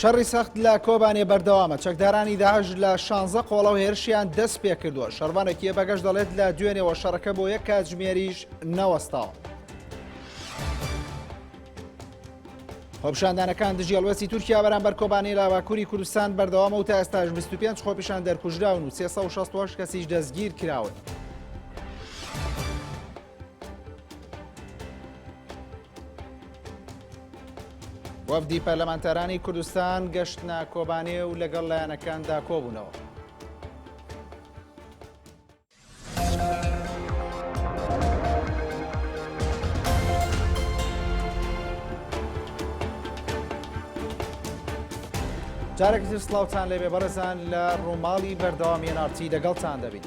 شەڕی سەخت لە کۆبانێ بەردەوامە چەکدارانی داعش لە شانزە قۆڵە و هێرشیان دەست پێ کردووە شەرمانێکیە بەگەش دەڵێت لە دوێنێەوە شەڕەکە بۆ یەک کاتژمێریش نەوەستاوە. خۆپشاندانەکان دژی هەڵوێستی تورکیا بەرامبەر کۆبانی لە باکووری کوردستان بەردەوامە و تا ئێستاش 25 خۆپیشان دەرکوژراون و 360 کەسیش دەستگیر کراون. وەفدی پەرلەمانتارانی کوردستان گەشتنە کۆبانێ و لەگەڵ لایەنەکاندا کۆبوونەوە. جارێکتر سلااوان لێبێ بەڕێزان لە ڕووماڵی بەردەوامی نارتی لەگەڵتان دەبین.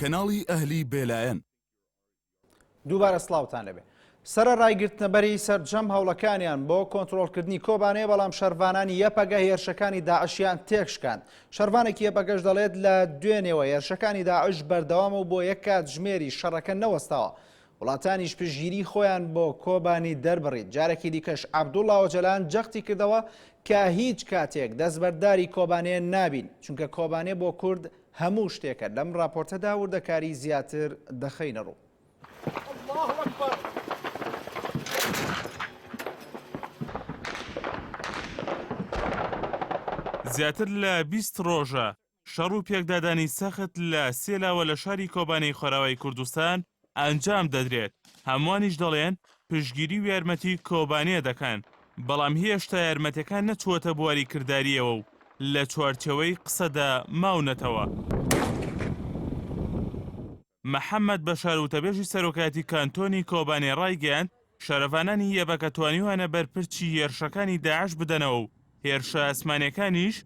کەناڵی ئەهلی بێلایەن دووبارە سڵاوتان لەبێ سەرەڕای گرتنەبەری سەرجەم هەوڵەکانیان بۆ کۆنترۆڵکردنی کۆبانێ، بەڵام شەرڤانانی یەپەگە هێرشەکانی داعشیان تێکشکاند. شەرڤانێکی یەپەگەش دەڵێت، لە دوێنێوە هێرشەکانی داعش بەردەوامە و بۆ یەک کاتژمێریش شەڕەکە نەوەستاوە. وڵاتانیش پشتگیری خۆیان بۆ کۆبانی دەربڕی. جارێکی دیکەش عەبدوڵڵا ئۆجەلان جەختی کردەوە کە هیچ کاتێک دەستبەرداری کۆبانێ نابین، چونکە کۆبانێ بۆ کورد هەموو شتێکە. لەم ڕاپۆرتەدا وردەکاری زیاتر دەخەینەڕوو. زیاتر لە بیست ڕۆژە شەڕ و پێکدادانی سەخت لە سێ لاوە لە شاری کۆبانێی خۆراوای کوردستان ئەنجام دەدرێت، هەمووانیش دەڵێن پشتگیری و یارمەتی کۆبانێ دەکەن، بەڵام هێشتا یارمەتیەکان نەچووەتە بواری کردارییەوە و لە چوارچێوەی قسەدا ماونەتەوە. محەمەد بەشار وتەبێژی سەرۆکایەتی کانتۆنی کۆبانێ ڕایگەیاند، شەرڤانانی یەبەکە توانیویانە بەرپرچی هێرشەکانی داعش بدەنەوە و هێرشە ئاسمانییەکانیش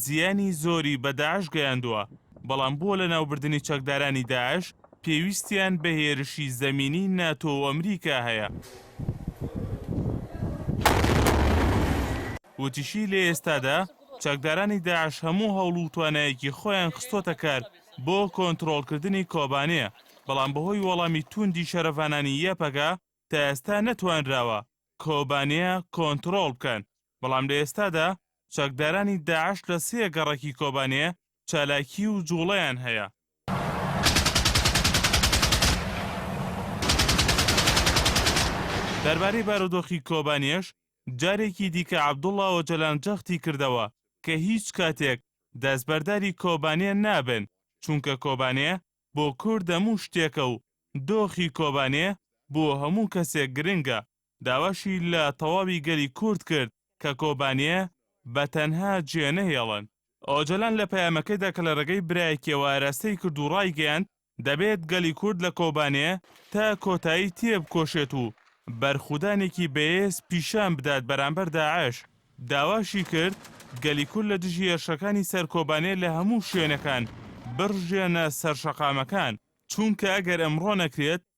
زیانی زۆری بە داعش گەیاندووە، بەڵام بۆ لەناوبردنی چەکدارانی داعش پێویستیان بە هێرشی زەمینیی ناتۆ و ئەمریکا هەیە. وتیشی، لە ئێستادا چەکدارانی داعش هەموو هەوڵ و توانایەکی خۆیان خستۆتە کار، بۆ کۆنترۆڵکردنی کۆبانێ، بەڵام بەهۆی وەڵامی تووندی شەرڤانانی یەپەگە تا ئێستا نەتوانراوە کۆبانێ کۆنترۆڵ بکەن، بەڵام لە ئێستادا چەکدارانی داعش لە سێ گەڕەکی کۆبانێ چالاکی و جوڵەیان هەیە. دەربارەی بارودۆخی کۆبانێش جارێکی دیکە عەبدوڵا ئۆجەلان جەختی کردەوە کە هیچ کاتێک دەستبەرداری کۆبانێ نابن، چونکە کۆبانێ بۆ کورد هەموو شتێکە و دۆخی کۆبانێ بۆ هەموو کەسێک گرنگە، داواشی لە تەواوی گەلی کورد کرد کە کۆبانێ بە تەنها جێنەهێڵن. ئۆجەلان لە پەیامەکەیدا کە لە رێگەی برایەکییەوە ئاراستەی کرد و رایگەیاند، دەبێت گەلی کورد لە کۆبانێ تا کۆتایی تێبکۆشێت و بەرخودانێکی بەێز پیشان بدات بەرامبەر داعش، داواشی کرد گەلی کورد لە دژی هێرشەکانی سەر کۆبانێ لە هەموو شوێنەکان بڕژێنە سەر شەقامەکان، چونکە ئەگەر ئەمڕۆ نەکرێت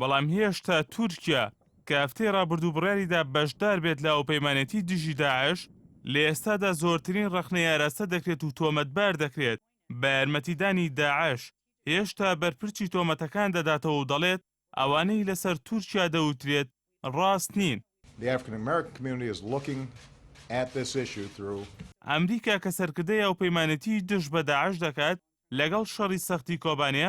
بەڵام هێشتا تورکیا کە هەفتەی ڕابردوو بڕیاریدا بەشدار بێت لە هاوپەیمانێتی دژی داعش، لە ئێستادا زۆرترین ڕەخنەی ئاراستە دەکرێت و تۆمەتبار دەکرێت بە یارمەتیدانی داعش، هێشتا بەرپرچی تۆمەتەکان دەداتەوە و دەڵێت، ئەوانەی لەسەر تورکیا دەوترێت ڕاست نین. ئەمریکا کە سەرکردەی هاوپەیمانێتی دژ بە داعش دەکات لەگەڵ شەڕی سەختی کۆبانێ،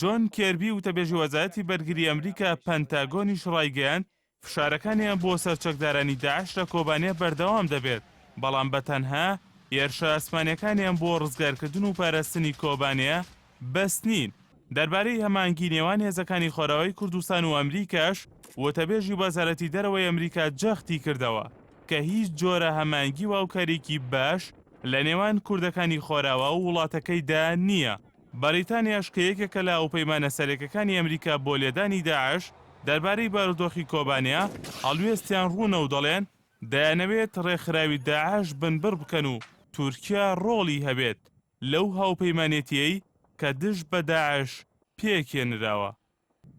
جۆن کێربی وتەبێژی وەزارەتی بەرگری ئەمریکا پەنتاگۆنیش ڕایگەیاند، فشارەکانیان بۆ سەر چەکدارانی داعش لە کۆبانێ بەردەوام دەبێت، بەڵام بەتەنها هێرشە ئاسمانییەکانیان بۆ ڕزگارکردن و پاراستنی کۆبانێ بەس نین. دەربارەی هەماهەنگی نێوان هێزەکانی خۆرئاوای کوردستان و ئەمریکاش، وتەبێژی وەزارەتی دەرەوەی ئەمریکا جەختی کردەوە کە هیچ جۆرە هەماهەنگی و هاوکارییەکی باش لە نێوان کوردەکانی خۆرئاوا و وڵاتەکەیدا نییە. بەریتانیاش کە یەکێکە لە هاوپەیمانە سەرەکیەکانی ئەمریکا بۆ لێدانی داعش، دەربارەی بارودۆخی کۆبانێ، هەڵوێستیان ڕوونە و دەڵێن، دەیانەوێت ڕێکخراوی داعش بنبڕ بکەن و تورکیا ڕۆڵی هەبێت. لەو هاوپەیمانێتییەی کە دژ بە داعش پێکهێنراوە.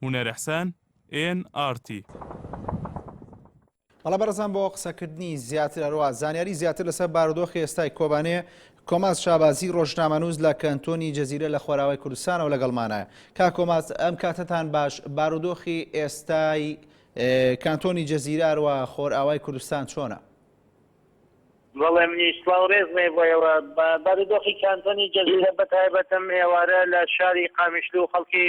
هونەرئحسان، ئێن ئاڕ تی. بەڵێ بەڕێزان بۆ قسەکردنی زیاتر هەروەها زانیاری زیاتر لەسەر بارودۆخی ئێستای کۆبانێ کۆماز شابازی ڕۆژنامەنووس لە کەنتۆنی جزیرە لە خۆراوای کوردستانەوە لەگەڵمانایە کاک کۆماز ئەم کاتەتان باش بارودۆخی ئێستای کانتۆنی جزیرە هەروەها خۆرئاوای کوردستان چۆنە؟ بەڵێ منیش سڵاو ڕێز مەی بۆ ئێوە بارودۆخی کانتۆنی جزیرە بەتایبەتم ئێوارە لە شاری قامیشلو خەڵکی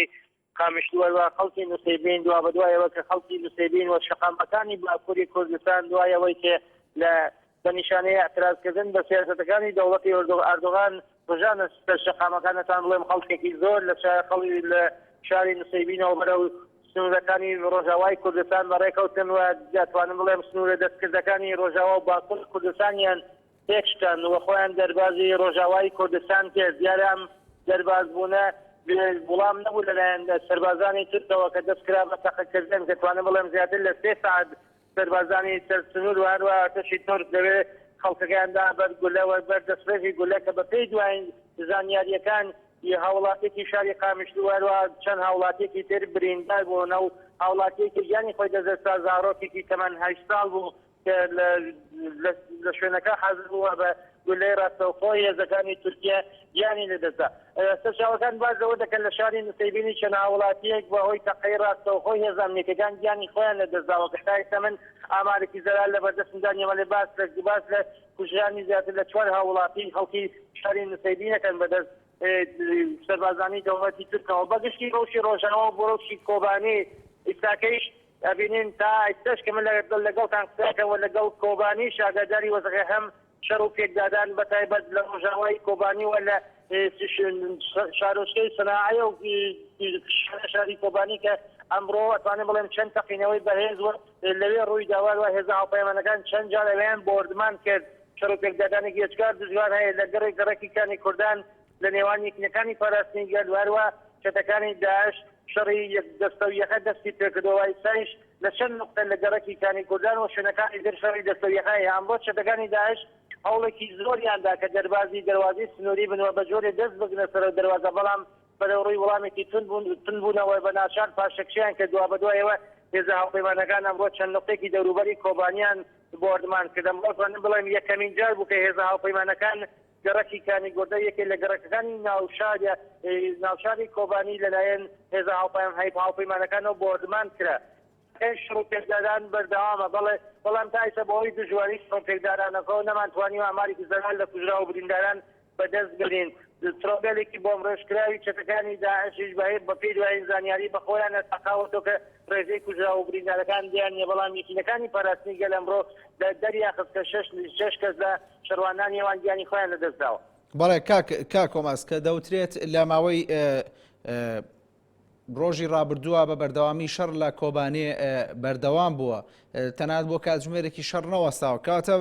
قامیشلو ئەوا خەڵکی نوسەیبین دوابەدوای ئەوە کە خەڵکی نوسەیبین وە شەقامەکانی باکوری کوردستان دوای ئەوەی کە لە بە نیشانەی ئیعتراز کردن بە سیاسەتەکانی دەوڵەتی ئەردۆغان ڕژانە سەر شەقامەکانتان بڵێم خەڵکێکی زۆر لە شارەقەڵی لە شاری نسەیبینەوە بەرەو سنوورەکانی ڕۆژاوای کوردستان بە ڕێکەوتن و دەتوانم بڵێم سنوورە دەستکردەکانی ڕۆژاوا و باکوور کوردستانیان تێکشکان و خۆیان دەربازی ڕۆژاوای کوردستان کرد دیارە ئەم دەربازبوونە بێ وڵام نەبوو لەلایەن سەربازانی تورکەوە کە دەستکرا بە تەقەکردن دەتوانم بڵێم زیاتر لە سێ سەعات سەربازانی سەر سنور و هەروەها ئەرتەشی تورک لەوێ خەڵکەکەیان دا بەر گولە و بەر دەسڕێژی گولە کە بە پێی دوایین زانیارییەکان ی هاوڵاتیەکی شاری قامیشلو و هەروەها چەند هاوڵاتیەکی تر بریندار بوون و هاوڵاتیەکی گیانی خۆی دەست دەست دا زاڕۆکێکی تەمەن هەشت ساڵ بوو کە لە لە شوێنەکە حازر بوو و بە گوللەی ڕاستەوخۆ هێزەکانی تورکیە گیانی لەدەستدا. سەرچاوەکان باس لەوە دەکەن لە شاری نسەیبینی چەند هاووڵاتییەک بەهۆی تەقەی ڕاستەوخۆی هێزە ئەمنییەکان گیانی خۆیان لەدەستداوە کە تا ئێستا من ئامارێکی زەلال لەبەردەستمدا نییە بەڵێ باس لە باس لە کوژرانی زیاتر لە چوار هاووڵاتیی خەڵکی شاری نسەیبین دەکەن بەدەست سەربازانی دەوڵەتی تورکەوە. بەگشتی ڕەوشی ڕۆژاوا و بۆ ڕەوشی کۆبانێ ئیستاکەیش ئەبینین تا ئیستەش کە من لەگەڵتان قسەکەم و لەگەڵ کۆبانیش ئاگاداری وەزعی هەم شەڕ و پێکدادان بە تایبەت لە ڕۆژاوای کۆبانی و لە شارۆچکەی سناعەیە و شاری کۆبانی کە ئەمڕۆ ئەتوانم بڵێم چەند تەقینەوەی بەهێز و لەوێ ڕووی دا وار وا هێزە هاوپەیمانەکان چەند جار ئەوێیان بۆردمان کرد شەڕ و پێکدادانێکی ئێجگار دژوار هەیە لە گەڕێک گەڕەکی کانی کوردان لە نێوان یەکینەکانی پاراستنی گەل و هەروە چەتەکانی داعش شەڕی یەک دەستە و یەکە دەستی پێکردوە و ئیستایش لە چەند نوقتە لە گەڕەکی کانی کوردان و شوێنەکانی تر شەڕی دەستە و یەکە هەیە ئەمڕۆ چەتەکانی داعش هەوڵێکی زۆریان دا کە دەربازی دەروازەی سنوری بن و بە جۆرێ دەست بگرنە سەرەو دەروازە بەڵام بەرەو ڕوی وڵامێکی توند بونەوە بە ناچار پاشەکشەیان کرد دوابەدوایەوە هێزە هاوپەیمانەکان ئەمڕۆ چەند نوقتێکی دەوروبەری کۆبانیان بۆردمان کرد ئەمڕۆ توانیم بڵێم یەکەمین جار بوو کە هێزە هاوپەیمانەکان گەڕەکی کانیگۆردە یەکێ لە گەڕەکەکانی ناوشارە ناوشاری کۆبانی لەلایەن هێزە هاوپەیام هاوپەیمانەکانەوە بۆردمان کرا. کەی شڕ و پێکدادان بەردەوامە بەڵێ بەڵام تا ئیستا بەهۆی دژواری شڕ و پێکدادانەکەوە نەمان توانیوە ئامارێکی زەلال لە کوژراو و برینداران بەدەست بێنین. ترۆگەلێکی بۆمب رێژکراوی چەتەکانی داعشیش بەهێ بەپێی دوایین زانیاری بەخۆیانە تەقاوەتەوە کە رێژەی کوژراو و بریندارەکان دیار نیە بەڵام یەکینەکانی پاراستنی گەل ئەمڕۆ دەریانخست کە شەش کەس لە شەڕوانانی ئەوان گیانی خۆیان لەدەستداوە. بەڵێ کاک کاک هۆماس کە دەوترێت لە ماوەی ڕۆژی ڕابردووە بە بەردەوامی شەڕ لە کۆبانێ بەردەوام بووە تەنات بۆ کاتژمێرێکی شەڕ نەوەستاوە کاتە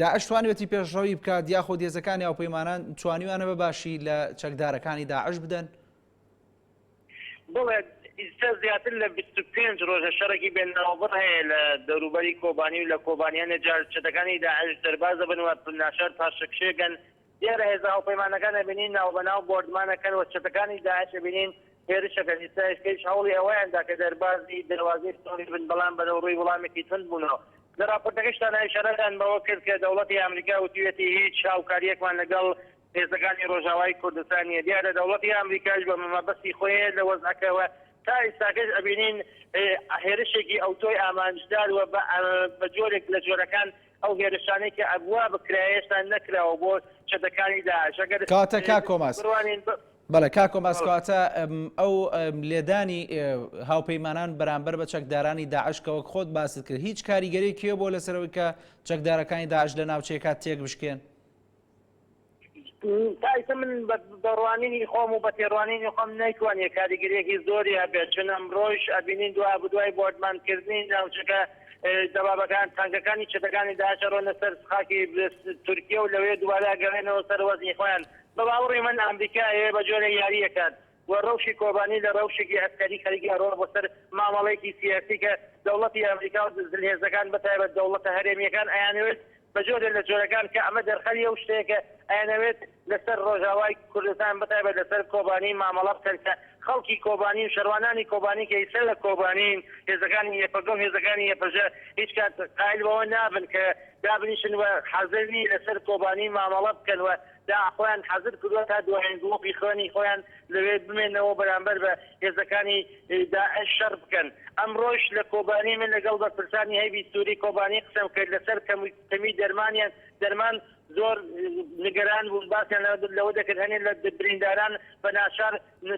داعش توانێتی پێشڕەوی بکات یاخۆ دێزەکانی هاوپەیمانان توانیوانە بە باشی لە چەکدارەکانی داعش بدەن بەڵێ، ئیستا زیاتر لە بیست و پێنج رۆژە شەڕێکی بێ ناوبڕ هەیە لە دەوروبەری کۆبانی و لە کۆبانی هەندێ جار چەتەکانی داعش دەرباز دەبن و ناچار پاشەکشێکەن، دیارە هێزە هاوپەیمانەکان ئەبینین ناوبەناو بۆردمان ئەکەن و چەتەکانی داعش ئەبینین هێرش ئەکەن، ئیستا ئێسکەیش هەوڵی ئەوەیان دا کە دەربازی دەروازەی سنوری بن، بەڵام بەرەوڕووی وڵامێکی توند بوونەوە. لە راپۆرتەکەشتانا ئیشارەتان بەوە کرد کە دەوڵەتی ئامریکا وتویەتی هیچ هاوکارییەکمان لەگەڵ هێزەکانی ڕۆژاوای کوردستان نیە دیارە دەوڵەتی ئامریکاش بە مەبەستی خۆێ لە وەزعەکە وە تا ئیستاکەش ئەبینین هێرشێکی ئەوتۆی ئامانجدار وە بە جۆرێک لە جۆرەکان ئەو هێرشانەی کە ئەبوا بکرایە هێشتا نەکراوە بۆ چەتەکانی داعش ئەگەر کەواتە کاک کۆماس بڕوانین بە بەڵێ کاک کۆماس بەڵێ. کەواتە ئەم ئەو ئەم لێدانی ئێ هاوپەیمانان بەرامبەر بە چەکدارانی داعش کە وەک خۆت باست کرد هیچ کاریگەریەکی هەبوە لەسەر ئەوەی کە چەکدارەکانی داعش لە ناوچەیەکە تێک بشکێن؟ تایسە من بە ڕوانینی خۆم و بە تێڕوانینی خۆم نەیتوانیە کاریگەریەکی زۆری هەبێت چون ئەمڕۆیش ئەبینین دوابدوای بۆردمان کردنی ناوچەکە دەبابەکان تانکەکانی چەتەکانی داعش ئەڕۆنە سەر خاکی تورکیە و لەوێ دوبارە ئەگەڕێنەوە سەر وەزعی خۆیان بە باوەڕی من ئەمریکا ئەیەوێ بە جۆرێ یاریەکات و رەوشی کۆبانی لە رەوشێکی عەسکەری خەریکی ئەڕوا بۆ سەر مامەڵەیەکی سیاسی کە دەوڵەتی ئەمریکا و زلهێزەکان بە تایبەت دەوڵەتە هەرێمیەکان ئەیانەوێت بە جۆرێ لە جۆرەکان کە ئەمە دەرخەری ئەو شتەیە کە ئەیانەوێت لە سەر رۆژاوای کوردستان بە تایبەت لە سەر کۆبانی مامەڵە بکەن کە خەڵکی کۆبانی و شەروانانی کۆبانی کە ئیستا لە کۆبانین هێزەکانی یەپەگە و هێزەکانی یەپەژە هیچ کات قایل بەوە نابن کە دابنیشن و حازر نین لە سەر کۆبانی مامەڵە بکەن و دا خۆیان حازر کردوە تا دوایین گڵۆپی خوێنی خۆیان لەوێ بمێنەوە بەرامبەر بە هێزەکانی داعش شەڕ بکەن. ئەمڕۆش لە کۆبانی من لەگەڵ بەرپرسانی هەیبی سوری کۆبانی قسەم کرد لەسەر کەمی دەرمانیان دەرمان زۆر نیگەران بوون باسیان لەوە دەکرد هەنێ لە برینداران بە ناچار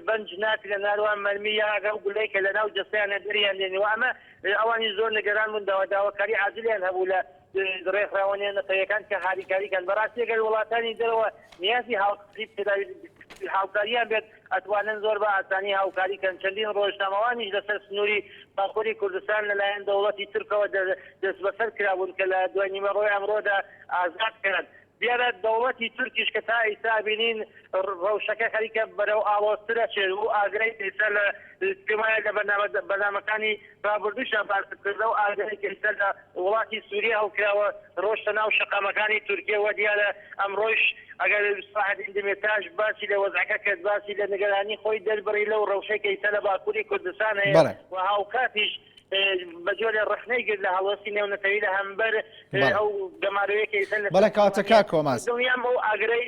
بەنج ناکرێن هەروەها مەرمی یان ئەگەر ئەو گولەی کە لەناو جەستەیانە دەریان دێنیوە ئەمە ئەوانیش زۆر نیگەران بوون داوا داواکاری عاجلیان هەبوو لە ڕێکخراوە نێونەتەویەکان کە هاریکاری کەن بەڕاستی گەر وڵاتانی دەرەوە نیازی هاوکاری پێداوی هاوکاریان بێت ئەتوانن زۆر بە ئاسانی هاوکاری کەن چەندین ڕۆژنامەوانیش لەسەر سنوری باکوری کوردستان لەلایەن دەوڵەتی تورکەوە دەستبەسەر کرابوون کە لە دوای نیوەڕۆی ئەمڕۆدا ئازاد کران. دیارە دەوڵەتی تورکیش کە تا ئیستا بینین رەوشەکە خەریکە بەرەو ئاڵۆزتر ئەچێت و ئاگرەی کە ئیستا لە پێم وایە لە بەرنامە بەرنامەکانی رابوردووشا باست کرد لەو ئاگرەی کە ئیستا لە وڵاتی سوریە هەڵکراوە رۆشتە ناو شەقامەکانی تورکیە وە دیارە ئەمڕۆیش ئەگەر سەلاحەدین دمیرتاش باسی لە وەزعەکە کرد باسی لە نگەرانی خۆی دەربڕی لەو رەوشەی کە ئیستا لە باکوری کوردستان هەیە و هاوکاتیش بەجۆرێ ڕەخنەی گرت لە هەڵوێستی نێونەتەوی لە هەمبەر ئەو گەمارۆیە کە ئیسە لەسەر حکومەتە، دڵنیام ئەو ئاگرەی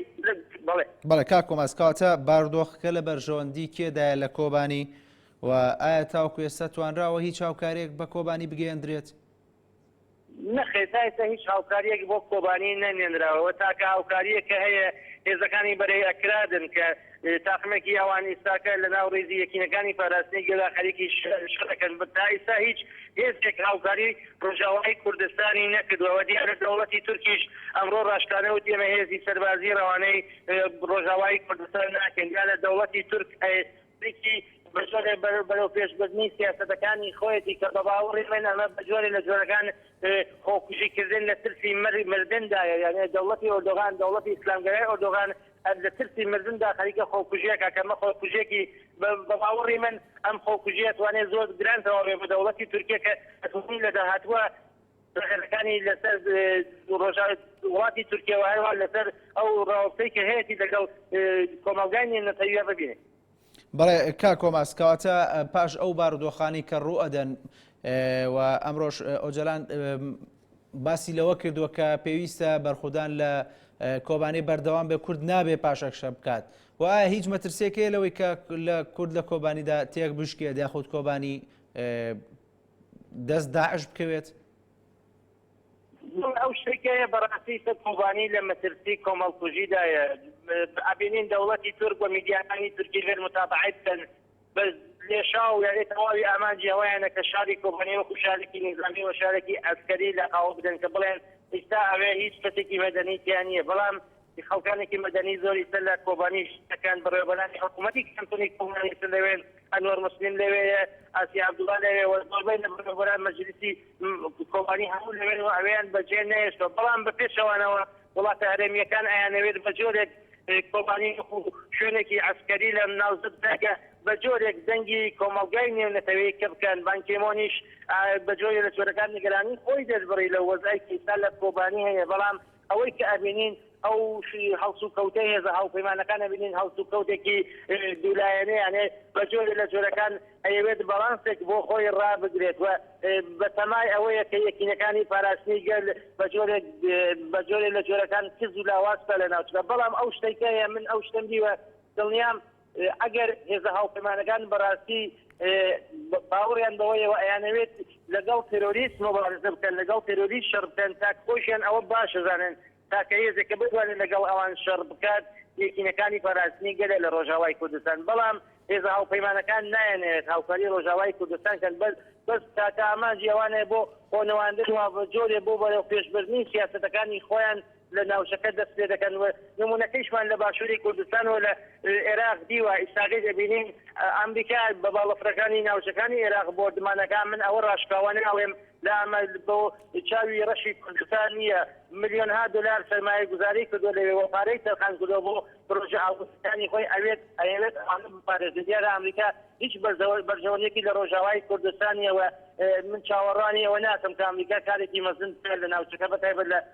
بەڵێ. بەڵێ کاک کۆماس کەواتە باردۆخەکە لە بەرژەوەندی کێدایە لە کۆبانی و ئایا تاوکو ئێستا توانراوە هیچ هاوکاریەک بە کۆبانی بگەیەندرێت؟ نەخێر تا ئێستا هیچ هاوکارییەک بۆ کۆبانی نەنێنراوە و تاکە هاوکارییەک کە هەیە هێزەکانی بەرەی ئەکرادن کە تاقمێکی ئەوان ئیستاکە لە ناو ریزی یەکینەکانی پاراستنی گەلا خەریکی شەرەکەن بە تا ئیستا هیچ هێزێک هاوکاری رۆژئاوای کوردستانی نەکردوە و دیارە دەوڵەتی تورکیش ئەمڕۆ راشکانە وتی ئێمە هێزی سەربازی رەوانەی رۆژئاوای کوردستان ناکەین دیارە دەوڵەتی تورک ئەی بریتی بە جۆرێ بەرەوپێشبردنی سیاسەتەکانی خۆیەتی کە بە باوەڕی من ئەمە بە جۆرێ لە جۆرەکان خۆکوژی کردن لە ترسی مردن دایە یانێ دەوڵەتی ئۆردۆغان دەوڵەتی ئیسلامگەرای ئۆردۆغان لە ترسی مردن دا خەریکە خۆکوژیەکا کە ئەمە خۆکوژیەکی بە باوەڕی من ئەم خۆکوژیە توانێ زۆر گران تەواو بێ بە دەوڵەتی تورکیە کە ئەتوانی لە داهاتووە ڕێگەزەکانی لەسەر ڕۆژاوای وڵاتی تورکیا و هەروەها لەسەر ئەو ڕاوەستەی کە هەیەتی لەگەڵ کۆمەڵگای نێونەتەویە ببینێت. بەڵێ کاک کۆماس کەواتە پاش ئەو بارودۆخانی کە ڕوو ئەدەن و ئەمڕۆش ئۆجەلان باسی لەوە کردووە کە پێویستە بەرخودان لە کۆبانێ بەردەوام بێ کورد نابێ پاشەکشە بکات و ئایا هیچ مەترسێکەیە لەوەی کە لە کورد لە کۆبانیدا تێک بشکێت یاخود کۆبانی دەست داعش بکەوێت؟ ئەو شتێکەیە بەڕاستی سەد قوبانی لە مەترسی کۆمەڵکوژیدایە ئەبینین دەوڵەتی تورک و میدیاکانی تورکی غێر متابعەی بکەن بەس لێشاو یاێ تەواوی ئامانجی ئەوەیانە کە شاری کۆبانی وەکو شارێکی نیزامی و شارێکی ئەسکەری لە قاوە بدەن کە بڵێن ئیستا ئەوێ هیچ کەسێکی مەدەنی تیان نییە بەڵام خەڵکانێکی مەدەنی زۆری تر لە کۆبانی ژن دەکەن، بەڕێوەبەرانی حکوومەتی کانتۆنی کۆبانی تر لەوێن، ئەنوەر موسلیم لەوێیە، ئاسیا عەبدوڵا لەوێ و زۆربەی لە بەڕێوەبەران مەجلیسی کۆبانی هەموو لەوێن و ئەوێیان بەجێ نەهێشتووە، بەڵام بە پێچەوانەوە وڵاتە هەرێمییەکان ئەیانەوێت بە جۆرێک کۆبانی وەکوو شوێنێکی عەسکەری لە ناوزەد بگاتە بە جۆرێک دەنگی کۆمەڵگای نێونەتەوەیی کپ بکەن، بان کی مۆنیش بە جۆرێ لە جۆرەکان نیگەرانیی خۆی دەربڕی لە وەزعی کە ئیستا لە کۆبانی هەیە، بەڵام ئەوەی کە ئەبینین ئەو هەڵسوکەوتە هێزە هاوپەیمانەکان ئەبینین هەڵسوکەوتێکی دوو لایەنەیان هەیە بە جۆرێ لە جۆرەکان ئەیەوێت بەڵانسێک بۆ خۆی ڕابگرێت و بە تەمای ئەوەیە کە یەکینەکانی پاراستنی گەل بە جۆرێک بە جۆرێ لە جۆرەکان کز و لاواز پەلە ناچنە بەڵام ئەو شتەی کە هەیە من ئەو شتەم دیوە دڵنیام ئەگەر هێزە هاوپەیمانەکان بەڕاستی باوەڕیان بەوەیە و ئەیانەوێت لەگەڵ تێرۆریست مۆبارزە بکەن، لەگەڵ تێرۆریست شەڕ بکەن، تاکە خۆیشیان ئەوە باش ئەزانن، تاکە هێزێک کە بتوانێت لەگەڵ ئەوان شەڕ بکات، یەکینەکانی پاراستنی گەلە لە ڕۆژاوای کوردستان. بەڵام هێزە هاوپەیمانەکان نایانەوێت هاوکاری ڕۆژاوای کوردستان کەن، بەس تاکە ئامانجی ئەوانە بۆ خۆنواندن و بە جۆرێ بۆ بەرەوپێشبردنی سیاسەتەکانی خۆیان، لە ناوچەکە دەست پێ دەکەن و نموونەکەیشمان لە باشووری کوردستان و لە ئێراق دیوە، ئیستاکەش ئەبینین ئامریکا بە باڵەفرەکانی ناوچەکانی ئێراق بۆردمان ئەکا، من ئەوە ڕاشکاوانە ئەڵێم لە ئەمە بۆ چاوی ڕەشی کوردستان نییە، ملیۆنها دۆلار سەرمایەگوزاری کردووە لەوێ و پارەی تەرخان کردووە بۆ پرۆژە ئاڵۆزەکانی خۆی ئەوێت، ئەیەوێت ئەوانە بپارێزێ، دیارە ئامریکا هیچ بەرژەوەندییەکی لە ڕۆژاوای کوردستان نییە و من چاوەڕوانی ئەوە ناکەم کە ئامریکا کارێکی مەزن بکا لە ناوچەکە بەتایبەت لە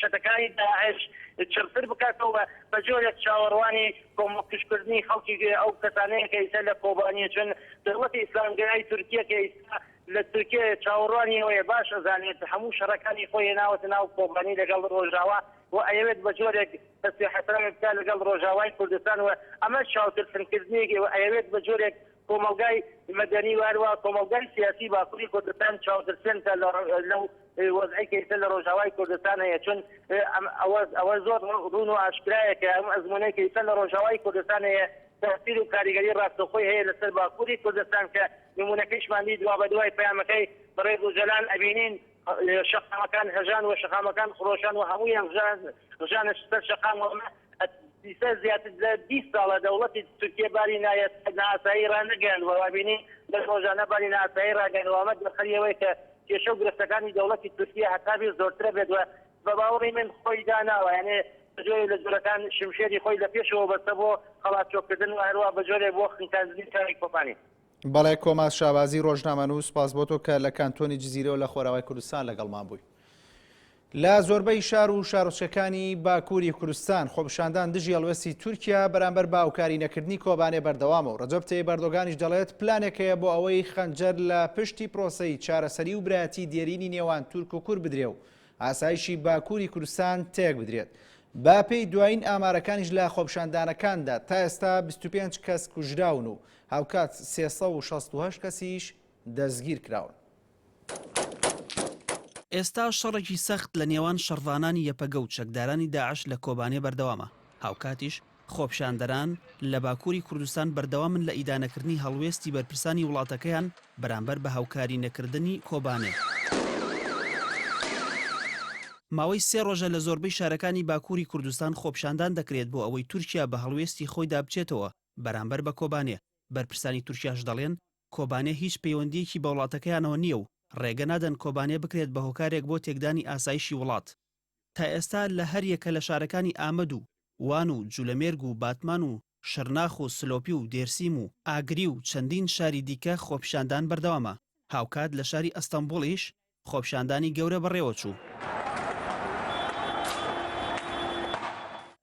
چەتەکانی داعش چڕتر بکاتەوە، بە جۆرێک چاوەڕوانی کۆمەڵکوژکردنی خەڵکی ئەو کەسانەیە کە ئیستا لە کۆبانیە چون دەوڵەتی ئیسلامگەرای تورکیە کە ئیستا لە تورکیەیە چاوەڕوانی ئەوەیە باش ئەزانێت هەموو شەڕەکانی خۆی هێناوەتە ناو کۆبانی لەگەڵ ڕۆژاوا و ئەیەوێت بە جۆرێک دەست حەسابێ بکات لەگەڵ ڕۆژاوای کوردستان و ئەمەش چاوترسنکردنێکی و ئەیەوێت بە جۆرێک کۆمەڵگای مەدەنی و هەروەها کۆمەڵگای سیاسی باکوری کوردستان چاوترسێن کە لەو وەزعەی کە ئیستا لە رۆژاوای کوردستان هەیە چون ئەوە زۆر روون و ئاشکرایە کە ئەم ئەزمونەی کە ئیستا لە رۆژاوای کوردستان هەیە تاسیر و کاریگەری راستەوخۆی هەیە لەسەر باکوری کوردستان کە نمونەکەیشمان دیت دوابەدوای پەیامەکەی بەڕێز ئۆجەلان ئەبینین شەقامەکان هەژان و شەقامەکان خرۆشان و هەموویان ڕژانە سەر شەقام و ئەمە ئیستا زیاتر لە بیست ساڵە دەوڵەتی تورکیە باری نائاسایی ڕانەگەیاندوە و بینین دەست ڕۆژانە باری نائاسایی ڕاگەیاندوە و ئەمە دەرخەری ئەوەیە کە کێشە و گرفتەکانی دەوڵەتی تورکیە هەتا بێ زۆرترە بێت و بە باوەڕی من خۆی داناوە یانێ بە جۆرێ لە جۆرەکان شمشێری خۆی لە پێشەوە بەستە بۆ قەڵاچۆکردن و هەروا بە جۆرێ بۆ خنکاندنی شاری کۆبانی. بەڵێ کۆما شابازی ڕۆژنامەنووس سپاس بۆ تۆ کە لە کانتۆنی جززیرەوە لە خۆراوای کوردستان لەگەڵمان بووی. لە زۆربەی شار و شارۆچەکانی باکووری کوردستان خۆپشاندان دژی هەڵوێستی تورکیا بەرامبەر باوکاری نەکردنی کۆبانێ بەردەوامە و ڕەجەب تەیب بەردۆگانیش دەڵێت پلانێک هەیە بۆ ئەوەی خەنجەر لە پشتی پرۆسەی چارەسەری و برایەتی دێرینی نێوان تورک و کورد بدرێ و ئاسایشی باکووری کوردستان تێک بدرێت باپی دوایین ئامارەکانیش لە خۆپشاندانەکاندا تا ئێستا 25 کەس کوژراون و هاوکات سێ سەد و شەست و هەشت کەسیش دەستگیرکراون. ئێستا شەڕێکی سەخت لە نێوان شەڕڤانانی یەپەگە و چەکدارانی داعش لە کۆبانێ بەردەوامە، هاوکاتیش خۆپیشاندەران لە باکووری کوردستان بەردەوامن لە ئیدانەکردنی هەڵوێستی بەرپرسانی وڵاتەکەیان بەرامبەر بە هاوکاری نەکردنی کۆبانێ. ماوەی سێ ڕۆژە لە زۆربەی شارەکانی باکووری کوردستان خۆپیشاندان دەکرێت بۆ ئەوەی تورکیا بە هەڵوێستی خۆیدا بچێتەوە بەرامبەر بە کۆبانێ، بەرپرسانی تورکیاش دەڵێن، کۆبانێ هیچ پەیوەندییەکی بە وڵاتەکەیانەوە نییە و ڕێگە نادەن کۆبانێ بکرێت بە هۆکارێک بۆ تێکدانی ئاسایشی وڵات. تا ئێستا لە هەر یەکە لە شارەکانی ئامەد و وان و جولەمێرگ و باتمان و شرناخ و سلۆپی و دێرسیم و ئاگری و چەندین شاری دیکە خۆپیشاندان بەردەوامە، هاوکات لە شاری ئەستەنبوڵیش خۆپیشاندانی گەورە بەڕێوەچوو.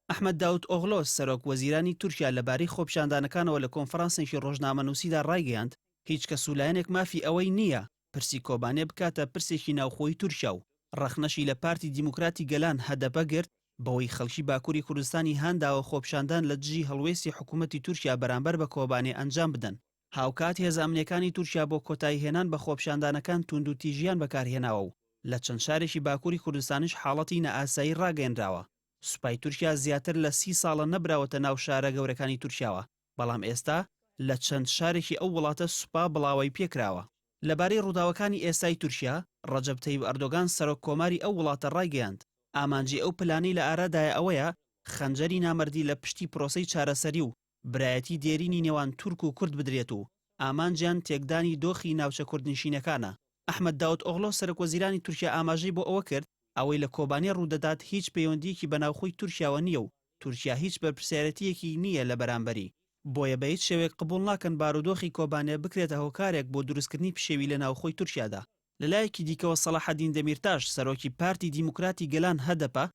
ئەحمەد داود ئۆغلۆ، سەرۆک وەزیرانی تورکیا لەبارەی خۆپیشاندانەکانەوە لە کۆنفرانسێکی ڕۆژنامەنووسیدا ڕایگەیاند، هیچ کەس و لایەنێک مافی ئەوەی نییە پرسی کۆبانێ بکاتە پرسێکی ناوخۆی تورکیا و ڕەخنەشی لە پارتی دیموکراتی گەلان، هەدەپە، گرت، بەوەی خەڵکی باکووری کوردستانی هانداوە خۆپیشاندان لە دژی هەڵوێستی حکوومەتی تورکیا بەرامبەر بە کۆبانێ ئەنجام بدەن. هاوکات هێزە ئەمنییەکانی تورکیا بۆ کۆتاییهێنان بە خۆپیشاندانەکان تووندوتیژییان بەکارهێناوە و لە چەند شارێکی باکووری کوردستانیش حاڵەتی نائاسایی ڕاگەیەنراوە. سوپای تورکیا زیاتر لە سی ساڵە نەبراوەتە ناو شارە گەورەکانی تورکیاوە، بەڵام ئێستا لە چەند شارێکی ئەو وڵاتە سوپا بڵاوەی پێ کراوە. لەبارەی ڕووداوەکانی ئێستای تورکیا، ڕەجەب تەیب ئەردۆگان سەرۆک کۆماری ئەو وڵاتە ڕایگەیاند، ئامانجی ئەو پلانەی لە ئارادایە ئەوەیە خەنجەری نامەردی لە پشتی پرۆسەی چارەسەری و برایەتی دێرینی نێوان تورک و کورد بدرێت و ئامانجیان تێکدانی دۆخی ناوچە کوردنشینەکانە. ئەحمەد داوتئۆغلۆ سەرەکوەزیرانی تورکیا ئاماژەی بۆ ئەوە کرد، ئەوەی لە کۆبانێ ڕوودەدات هیچ پەیوەندییەکی بە ناوخۆی تورکیاوە نییە و تورکیا هیچ بەرپرسیارێتییەکی نییە لە بەرامبەری، بۆیە بەهیچ شێوەیەک قبوڵ ناکەن بارودۆخی کۆبانێ بکرێتە هۆکارێک بۆ دروستکردنی پشێوی لە ناوخۆی تورکیادا. لەلایەکی دیکەوە سەڵاحەدین دەمیرتاش سەرۆکی پارتی دیموکراتی گەلان، هەدەپە،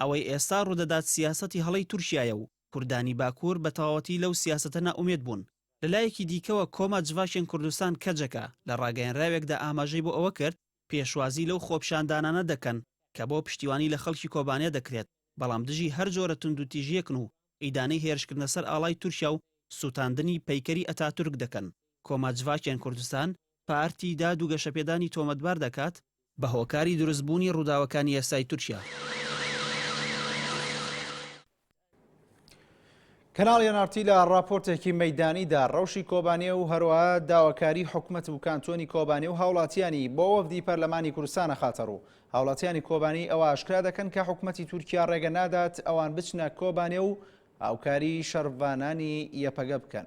ئەوەی ئێستا ڕوودەدات سیاسەتی هەڵەی تورکیایە و کوردانی باکوور بە تەواوەتی لەو سیاسەتە نائومێد بوون. لەلایەکی دیکەوە کۆما جڤاکێن کوردستان کەجەکە لە ڕاگەیەنراوێکدا ئاماژەی بۆ ئەوە کرد، پێشوازی لەو خۆپیشاندانانە دەکەن کە بۆ پشتیوانی لە خەڵکی کۆبانێ دەکرێت، بەڵام دژی هەر جۆرە توندوتیژییەکن و ئیدانەی هێرشکردنە سەر ئاڵای تورکیا و سووتاندنی پەیکەری ئەتاتورک دەکەن. کۆما جڤاکێن کوردستان پارتی داد و گەشەپێدانی تۆمەتبار دەکات بە هۆکاری دروستبوونی ڕووداوەکانی یاسایی تورکیا. کەناڵی ئێن ئاڕ تی لە ڕاپۆرتێکی مەیدانیدا ڕەوشی کۆبانێ و هەروەها داواکاری حکومەت و کانتۆنی کۆبانێ و هاوڵاتیانی بۆ وەفدی پەرلەمانی کوردستان ئەخاتە ڕوو هاوڵاتیانی کۆبانی ئەوە ئاشکرا دەکەن کە حکومەتی تورکیا ڕێگە نادات ئەوان بچنە کۆبانێ و هاوکاری شەڕڤانانی یەپەگە بکەن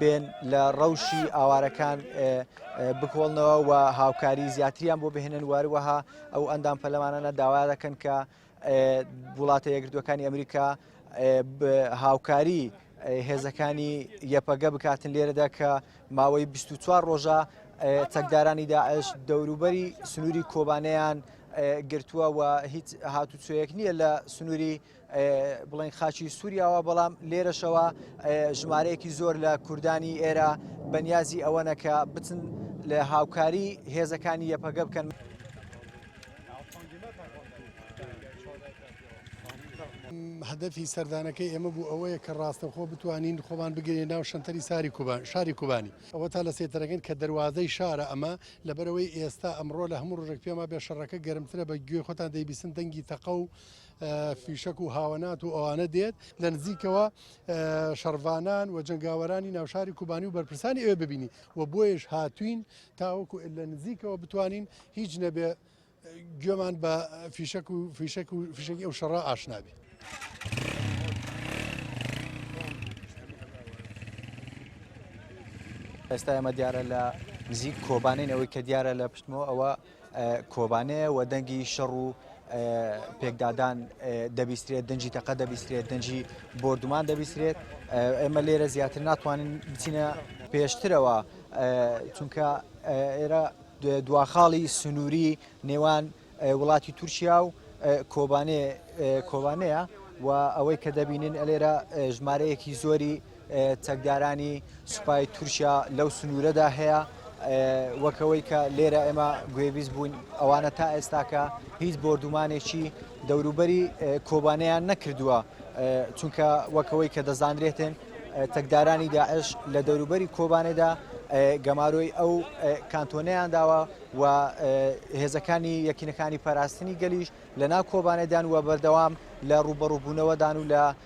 بێن لە ڕەوشی ئاوارەکان بکۆڵنەوە و هاوکاری زیاتریان بۆ بهێنن واروەها ئەو ئەندام پەلەمانانە داوا دەکەن کە وڵاتە یەکردوەکانی ئەمریکا هاوکاری هێزەکانی یەپەگە بکاتن لێرەدا کە ماوەی 24 ڕۆژە چەکدارانی داعش دەوروبەری سنووری کۆبانیان گرتووە و هیچ هاتوچۆیەک نییە لە سنووری بڵێن خاچی سووریاوە بەڵام لێرەشەوە ژمارەیەکی زۆر لە کوردانی ئێرە بەنیازی ئەوەنە کە بچن لە هاوکاری هێزەکانی یەپەگە بکەن. هەدەفی سەردانەکەی ئێمە بوو ئەوەیە کە ڕاستەخۆ بتوانین خۆمان بگرێن ناو شەنتەری ساری کوبان شاری کوبانی ئەوە تا لە سێتەرەکەن کە دەواازەی شارە ئەمە لەبەرەوەی ئێستا ئەمڕۆ لە هەموو ڕژێک پێما بێ شەڕەکە گەرمترە بە گوێ خۆتان دەیبیسن دەنگی تەقە و فیشەک و هاوەنات و ئەوانە دێت لە نزیکەوە شەڕڤانان و جنگاوەرانی ناوشاری کوبانی و بەرپرسانی ئەوێ ببینی و بۆیش هاتوین تاوەکو لە نزیکەوە بتوانین هیچ نەبێ گوێمان بە فیشەک و فیشەک و فیشەکی ئەو شەڕە ئاشنابی. ئێستا ئەمە دیارە لە نزیک کۆبانین ئەوەی کە دیارە لە پشتمەوە ئەوە کۆبانێ و دەنگی شەڕ و پێکدادان دەبیسترێت دەنجی تەقە دەبیسترێت دەنجی بردومان دەبیسترێت ئێمە لێرە زیاتر ناتوانین بچینە پێشترەوە چونکە ئێرە دواخاڵی سنووری نێوان وڵاتی تورکیا و کۆبانێ کۆبانەیە و ئەوەی کە دەبینین ئەلێرە ژمارەیەکی زۆری چەکدارانی سوپای تورکیا لەو سنوورەدا هەیە وەکەوەی کە لێرە ئێمە گوێبیست بووین ئەوانە تا ئێستاکە هیچ بۆردومانێکی دەوروبەری کۆبانیان نەکردووە چونکە وەکەوەی کە دەزانرێتن تەکدارانی داعش لە دەوروبەری کۆبانێدا گەمارۆی ئەو کانتۆنیان داوە و هێزەکانی یەکینەکانی پاراستنی گەلیش لە ناو کۆبانێدان و بەردەوام لە ڕوبەڕوبوونەوەدان و لە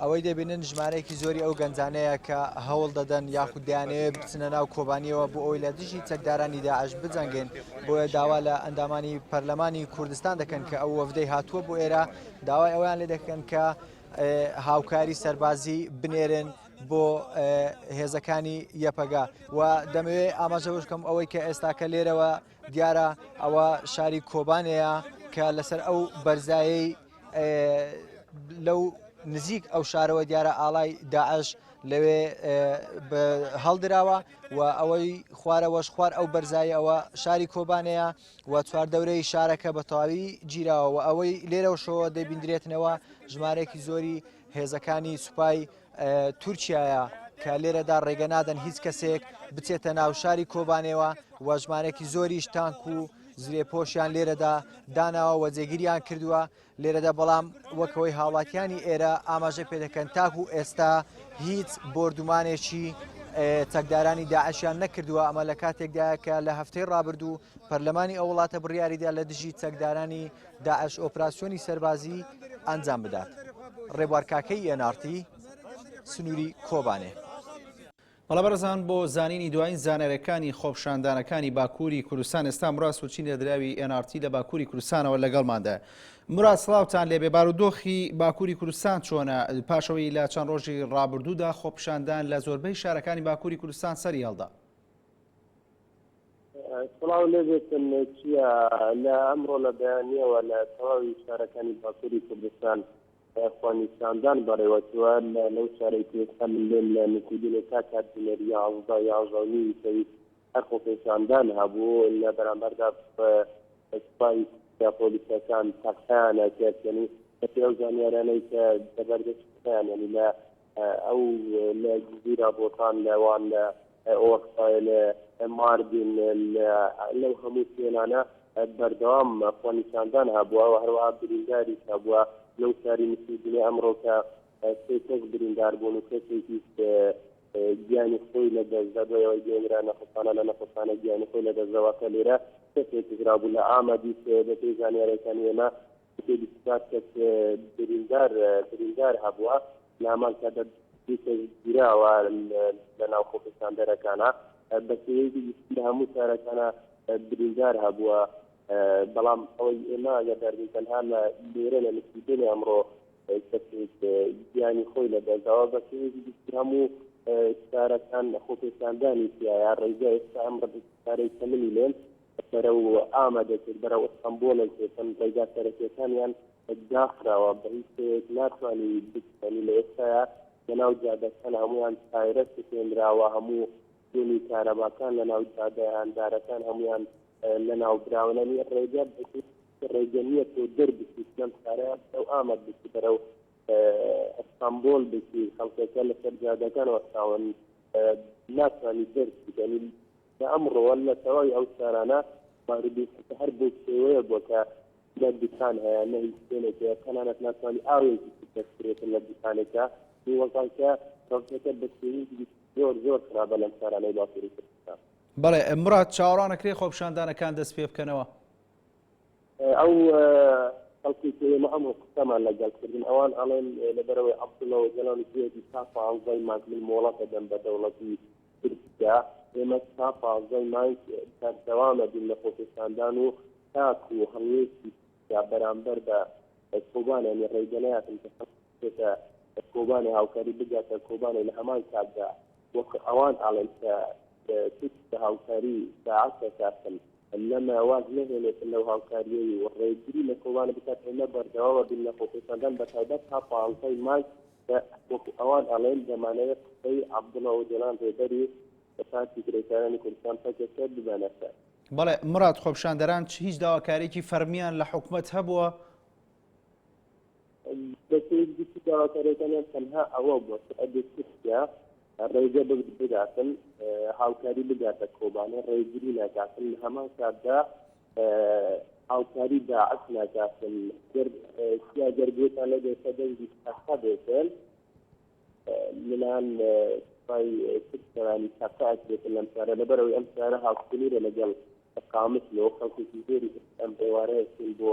ئەوەی دەبینن ژمارەیەکی زۆری ئەو گەنجانەیە کە هەوڵ دەدەن یاخود دەیانەوێت بچنە ناو کۆبانیەوە بۆ ئەوی لە دژی چەکدارانی داعش بجەنگێن بۆیە داوا لە ئەندامانی پەرلەمانی کوردستان دەکەن کە ئەو وەفدەی هاتووە بۆ ئێرە داوای ئەویان لێ دەکەن کە هاوکاری سەربازی بنێرن بۆ هێزەکانی یەپەگا و دەمەوێت ئاماژەوەشکەم ئەوەی کە ئێستاکە لێرەوە دیارە ئەوە شاری کۆبانێە کە لەسەر ئەو بەرزایی لەو نزیک ئەو شارەوە دیارە ئاڵای داعش لەوێ هەڵدراوە و ئەوەی خوارەوەش خوار ئەو بەرزایی ئەوە شاری کۆبانەیە و چوار دەورەی شارەکە بە تەواوی گیراوە ئەوەی لێرەوە شەوە دەبیندرێتنەوە ژمارەێکی زۆری هێزەکانی سوپای تورکیایە کە لێرەدا ڕێگە نادەن هیچ کەسێک بچێتە ناو شاری کۆبانێەوە وەژمارێکی زۆریش تانک و زرێ پۆشیان لێرەدا داناوە وە جێگیریان کردووە لێرەدا بەڵام وەکەوەی هاوڵاتیانی ئێرە ئاماژە پێ دەکەن تاک و ئێستا هیچ بردومانێکی چەکدارانی داعشیان نەکردووە ئەمە لە کاتێکدا کە لە هەفتەی ڕابردوو پەرلەمانی ئەو وڵاتە بڕیاریدا لە دژی چەکدارانی داعش ئۆپراسیۆنی سەربازی ئەنجام بدات ڕێبوار کاکەیی یەنارتی سنووری کۆبانێ. بەڵێ بەڕێزان بۆ زانینی دوایین زانیاریەکانی خۆپشاندانەکانی باکووری کوردستان ئێستا مراد سوچین لە دراوی NRT لە باکووری کوردستانەوە لەگەڵماندایە مراد سڵاوتان لێبێ بارودۆخی باکووری کوردستان چۆنە پاشەوەی لە چەند ڕۆژی ڕابردوودا خۆپشاندان لە زۆربەی شارەکانی باکووری کوردستان سەری هەڵدا سڵاو لێ بێتن چیە لە ئەمڕۆ لە بەیانیەوە لە تەواوی شارەکانی باکوری کوردستان خوەنیساندان بەڕێوەچوە لە لەو شارەی کوێستا من لێم لە نکودینێ تا کات بنێر یازدە یازدە و نیوی سەوی هەر خۆپێشاندان هەبوو لە بەرامبەردا سپای یا پۆلیسەکان تەقیانە کرد یعنی بەپێی ئەو زانیارانەی کە لەبەردەست خۆیان یعنی لە ئەو لە جزیرە بۆتان لەوان لە ئۆرفای لە ماردین لەو هەموو شوێنانە بەردەوام خۆنیشاندان هەبووە و هەروەها برینداری هەبووە لەو شاری مسیدنێ ئەمڕۆکە سێ کەس بریندار بوون و کەسێکی گیانی خۆی لە دەستدا بۆەوەی گەێنرا نەخۆسانە لە نەخۆسانە گیانی خۆی لە دەستەوە کە لێرە کەسێک گرابوو لە ئامەدی دەپی زانیارەکان ئێمە سێ بیست و چوار کەس بریندار بریندار هەبووە نامان کە دە دوو کەس گیراوە لە ناو خۆپیساندەرەکانا بە سێیەکی گشتی لە هەموو شارەکانا بریندار هەبووە بەڵام ئەوەی ئێمە ئەگەدارین تەنها لە لێرە لە نسیدنی ئەمڕۆ کەسێک گیانی خۆی لە دەرداوە بە سێیەکی گشتی هەموو شارەکان خۆپیساندانی تایە ڕێگە ئێستا ئەم ڕدارەی کەمنی لێن بەرەو ئامە دەچێت بەرەو ئەستەمبۆڵێک دەچن ڕێگا سەرەکیەکانیان داخراوە بە هیچ شێوەیەک ناتوانی بچێنی لە ئێستایا لەناو جادەکان هەمویان تایرە سوتێنراوە هەموو شوێنی کارەباکان لەناو جادە هاندارەکان هەمویان لەناو براون ئەنی ڕێگە بەهیچ ڕێگە نییە تۆ دەربچیت لەم شارەیە بەرەو ئامەد بچی بەرەو ئەستانبۆل بچی خەڵکەکە لەسەر جادەکان وەستاون ناتوانانی دەرچیت ئەنی کە ئەمڕۆ لە تەواوی ئەو شارانە ماروبیسکە هەر بەو شێوەیە بووە کە نە دوکان هەیە نە هیچ شوێنێک هەیە تەنانەت ناتوانی ئاوێکی بچێت بەکرێتن لە دوکانێکدا نیوەزان کە ڕەوتەکە بە شێوەیەکی زۆر زۆر خراپە لەم شارانەی باکووری کوردستان. بەڵێ مراد، چاوەڕوان ئەکرێ خۆپیشاندانەکان دەستپێبکەنەوە؟ ئەو خەڵکەی کە ئێمە ئەمڕۆ قسەمان لەگەڵ کردن ئەوان ئەڵێن لەبەرەوەی عەبدوڵڵا ئۆجالان گوێبی تا پانزەی مانگ من مۆڵەت دەدەم بە دەوڵەتی تورکیا ئێمە تا پانزەی مانگ بەردەوام دەبین لە خۆپێشاندان و تاکو هەڵوێستی تورکیا بەرامبەر بە کۆبانیان ڕێگە نەیاتن کە خەڵکی بێتە کۆبانێ هاوکاری بگاتە کۆبانێ لە هەمان کاتدا وەک ئەوان ئاڵێن کە تورک بە هاوکاری داعش دەکاتن لەمە واز نەهێنێتن لەو هاوکاریەی و ڕێگری لە کۆبانە بکات ئێمە بەردەوامە بین لە خۆپێشاندان بە تایبەت تا پانزەی مارس کە وەکو ئەوان ئەڵێن دەمانەوێت قسەی عەبدوڵا ئۆجەلان ڕێبەری پارتی کرێکارانی کوردستان پەکەکە ببەنە سەر بەڵێ مراد خۆپشاندەران هیچ داواکاریکی فەرمیان لە حکومەت هەبووە؟ دەکەیت گشتی داواکاریەکانیان تەنها ئەوە بووە کە ئەگەر تورکیا ڕێگە بگرت بداتن هاوکاری بداتە کۆبانێ ڕێگری ناکاتن لە هەمان کاتدا هاوکاری داعش ناکاتن گەر سیا گەر گوێتان لەگەر کە دەنگی تەقە بێتن منان سوپای تورکیانی تەقە ئەکرێتن لەم شارە لەبەرەوەی ئەم شارە هاوسنورە لەگەڵ قامت لەوە خەڵکێکی زۆری ئەم ئێوارەیەکن بۆ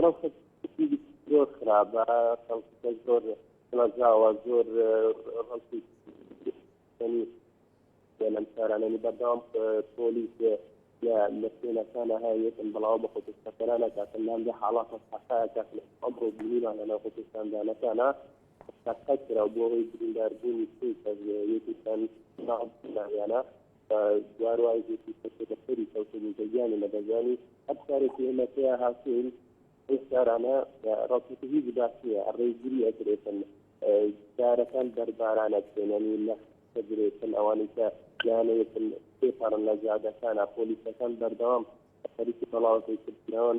ڕەوشە زۆر خراپە خەڵکەکە زۆر ڵەزاوە زۆر ڕەوشی لەم شارانەنی بەردەوام پۆلیس لە لە شوێنەکانە هەیەتن بەڵاو بە خۆپشتەکەرانە کاتن لام لە حاڵات حقاەکە ئەمڕۆ بینیمانە لە خۆپشتاندانەکانە تاقەت کرا بۆ ئەوەی برینداربوونی سێ کەس یەکیان ناویانە بە جار وای گوتی کەسێ بە سەری کەوتبوو بە گیانی نەدەزانی هەر کارێکی ئێمە پێیا هاتوین ئەو کارانە ڕاستەکە هیچ باس نییە ئەڕێی گری ئەدرێتن دارەکان بەرباران ئەکرێنن و لە دەدرێتن ئەوانەی کە یانەیەتن پێپەڕن لە جادەکانە پۆلیسەکان بەردەوام خەریکی بەڵاوەکەی کردنەوەن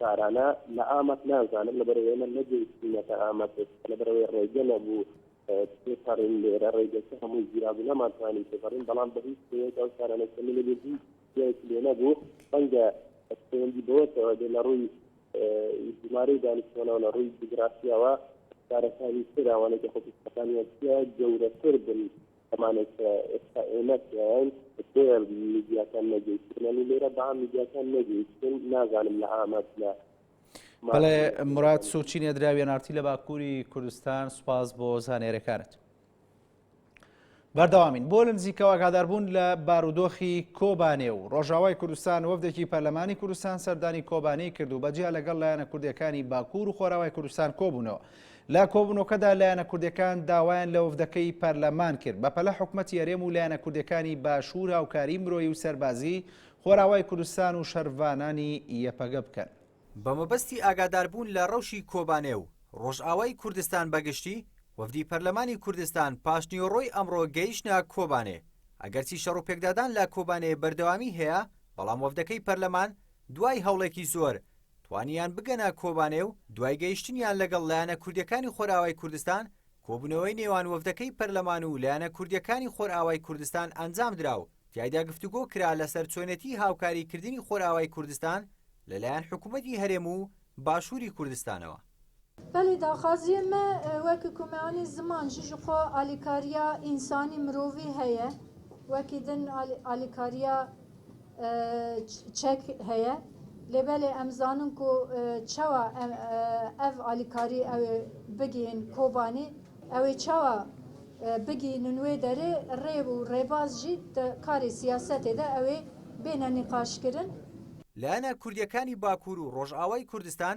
تارانە لە ئامەد نازانم لەبەرەوەی من نەگەیشتینەتە ئامەد ئێستا لەبەرەوەی ڕێگە نەبوو تێپەڕین لێرە ڕێگەکە هەمووی گیرا بوو نەمانتوانی تێپەڕین بەڵام بە هیچ شێوەیەک ئەو تارانەی کە من لەبێ هیچ جیایەکی لێ نەبوو ڕەنگە پەیوەندی بەوەتەوە دێ لە ڕووی ژمارەی دانیشتوانەوە لە ڕووی جوگرافیاوە شارەکانی تر ئەوانەی کە خۆپیستەکانیان تیا گەورەتر بن کەمانێک کە ئێستا ئێمە تیاین بۆ میدیاکان نەگەیشتنانی لێرە با میدیاکان نەگەیشتن نازانم لە ئامەد لە بەڵێ مراد سوچی نێدراوی نارتی لە باکووری کوردستان سوپاس بۆ زانێرەکانت. بەردەوامین بۆ لە نزیکەوە ئاگاداربوون لە بارودۆخی کۆبانێ و ڕۆژاوای کوردستان وەفدێکی پەرلەمانی کوردستان سەردانی کۆبانەی کرد و بەجیا لەگەڵ لایەنە کوردەکانی باکوور و خۆراوای کوردستان کۆبوونەوە لە کۆبوونەوەکەدا لایەنە کوردەکان داوایان لە وەفدەکەی پەرلەمان کرد بەپەلە حکومەتی هەرێم و لایەنە کوردەکانی باشوور هاوکاری مرۆیی و سەربازی خۆراوای کوردستان و شەرڤانانی یەپەگە بکەن. بە مەبەستی ئاگاداربوون لە رەوشی کۆبانێ و رۆژئاوای کوردستان بە گشتی، وەفدی پەرلەمانی کوردستان پاشنیوەڕۆی ئەمڕۆ گەیشتنە کۆبانێ، ئەگەرچی شەڕوپێکدادان لە کۆبانێ بەردەوامی هەیە، بەڵام وەفدەکەی پەرلەمان دوای هەوڵێکی زۆر توانیان بگەنە کۆبانێ و دوای گەیشتنیان لەگەڵ لایەنە کوردیەکانی خۆرئاوای کوردستان، کۆبوونەوەی نێوان وەفدەکەی پەرلەمان و لایەنە کوردیەکانی خۆرئاوای کوردستان ئەنجامدرا و تیایدا گفتوگۆ کرا لەسەر چۆنێتی هاوکاری کردنی خۆرئاوای کوردستان لەلایەن حکومەتی هەرێم و باشووری کوردستانەوە. بەلی داخوازیێ مە وەک کومەانی زمان ژی ژخۆ ئالیکاریا ئینسانی مرۆڤی هەیە وەکی دن ئالیکاریا چەک هەیە لێ بەلێ ئەم زانن کو چەوە ئەڤ ئالیکاری ئەوێ بگین کۆبانی ئەوێ چەوە بگی نوێ دەرێ ڕێ و ڕێباز ژی کاری سیاسەتێ دە ئەوێ بێنە نیقاشکردن. لایەنە کوردیەکانی باکور و ڕۆژئاوای کوردستان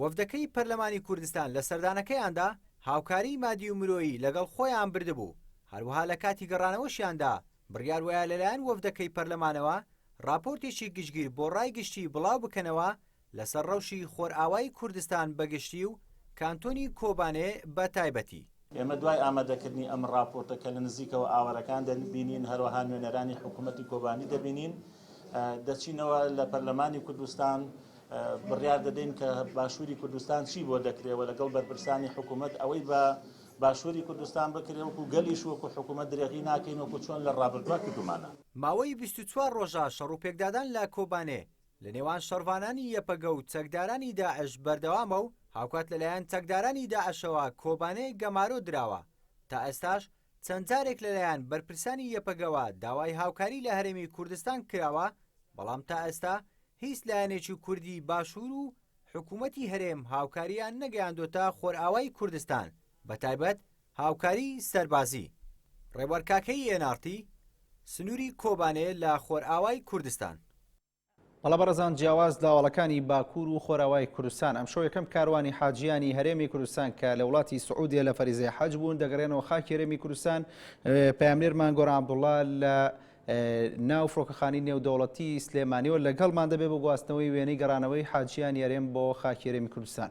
وەفدەکەی پەرلەمانی کوردستان لە سەردانەکەیاندا هاوکاریی مادی و مرۆیی لەگەڵ خۆیان بردبوو، هەروەها لە کاتی گەڕانەوەشیاندا بڕیار وایە لەلایەن وەفدەکەی پەرلەمانەوە راپۆرتێکی گشتگیر بۆ رای گشتی بڵاو بکەنەوە لەسەر رەوشی خۆرئاوای کوردستان بە گشتی و کانتۆنی کۆبانێ بە تایبەتی. ئێمە دوای ئامادەکردنی ئەم ڕاپۆرتە کە لە نزیکەوە ئاوارەکان دەبینین، هەروەها نوێنەرانی حکوومەتی کۆبانی دەبینین، دەچینەوە لە پەرلەمانی کوردستان، بڕیار دەدەین کە باشووری کوردستان چی بۆ دەکرێ و لەگەڵ بەرپرسانی حکوومەت ئەوەی بە باشووری کوردستان بکرێ وەکو گەلیش وەکو حکوومەت درێغی ناکەین وەکو چۆن لە ڕابردووا کردوومانە. ماوەی بیست و چوار ڕۆژە شەڕ و پێکدادان لە کۆبانێ لە نێوان شەڕڤانانی یەپەگە و چەکدارانی داعش بەردەوامە و هاوکات لەلایەن چەکدارانی داعشەوە کۆبانێ گەمارۆ دراوە، تا ئێستاش چەند جارێک لەلایەن بەرپرسانی یەپەگەوە داوای هاوکاری لە هەرێمی کوردستان کراوە، بەڵام تا ئێستا هیچ لایەنێکی کوردی باشوور و حکوومەتی هەرێم هاوکارییان نەگەیاندۆتە خۆرئاوای کوردستان، بەتایبەت هاوکاری سەربازی، ڕێبوار کاکەیی ئێن ئاڕ تی، سنووری کۆبانێ لە خۆرئاوای کوردستان. مەلا بەڕزان جیاواز لە هەواڵەکانی باکوور و خۆراوای کوردستان، ئەمشەو یەکەم کاروانی حاجییانی هەرێمی کوردستان کە لە وڵاتی سعودیە لە فەریزەی حەج بوون دەگەرێنەوە خاکی هەرێمی کوردستان، پەیامنێرمان گۆران عەبدوڵا لە ناو فڕۆکەخانی نێودەوڵەتی سلێمانیەوە لەگەڵمان دەبێت بۆ گواستنەوەی وێنەی گەڕانەوەی حاجییانی هەرێم بۆ خاکی هەرێمی کوردستان.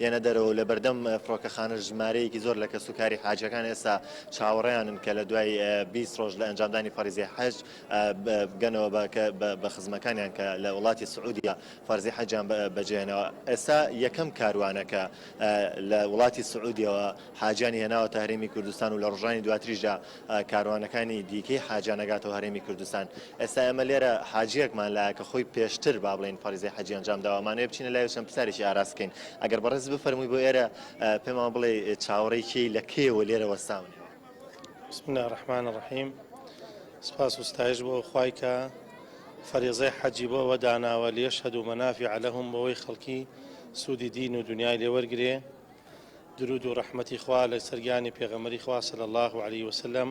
یەنە دەرەوەو لە بەردەم فڕۆکەخانەش ژمارەیەکی زۆر لە کەسوکاری حاجیەکان ئێستا چاوەڕێیانن کە لە دوای بیست ڕۆژ لە ئەنجامدانی فەریزەی حەج بگەنەوە بە بە خزمەکانیان کە لە وڵاتی سعودیە فەرزی حەجیان بەجێهێناوە ئێستا یەکەم کاروانەکە لە وڵاتی سعودیەوە حاجیانی هێناوەتە هەرێمی کوردستان و لە ڕۆژانی دواتریشدا کاروانەکانی دیکەی حاجیان ئەگاتەوە هەرێمی کوردستان ئێستا ئێمە لێرە حاجیەکمان لایە کە خۆی پێشتر با بڵێن فەریزەی حەجی ئەنجام داوە ئەمانەوێ بچینە لای و چەند پرسیارێکی ئاراس بکەین ئەگەر بەڕێز بفەرمووی بۆ ئێرە پێمان بڵێ چاوەڕێی کێی لە کێوە لێرە وەستاونەوە بسم الله الرحمن الرحیم سپاس و ستایش بۆ خوای کە فەریزەی حەجی بۆ ئەوە داناوە لێشهد و مەنافی عەلەهم بۆەوەی خەڵکی سوودی دین و دنیای لێوەرگێ درود و ڕەحمەتی خوا لەسەر گیانی پێغەمبەری خوا صلی اللە علیە وسلم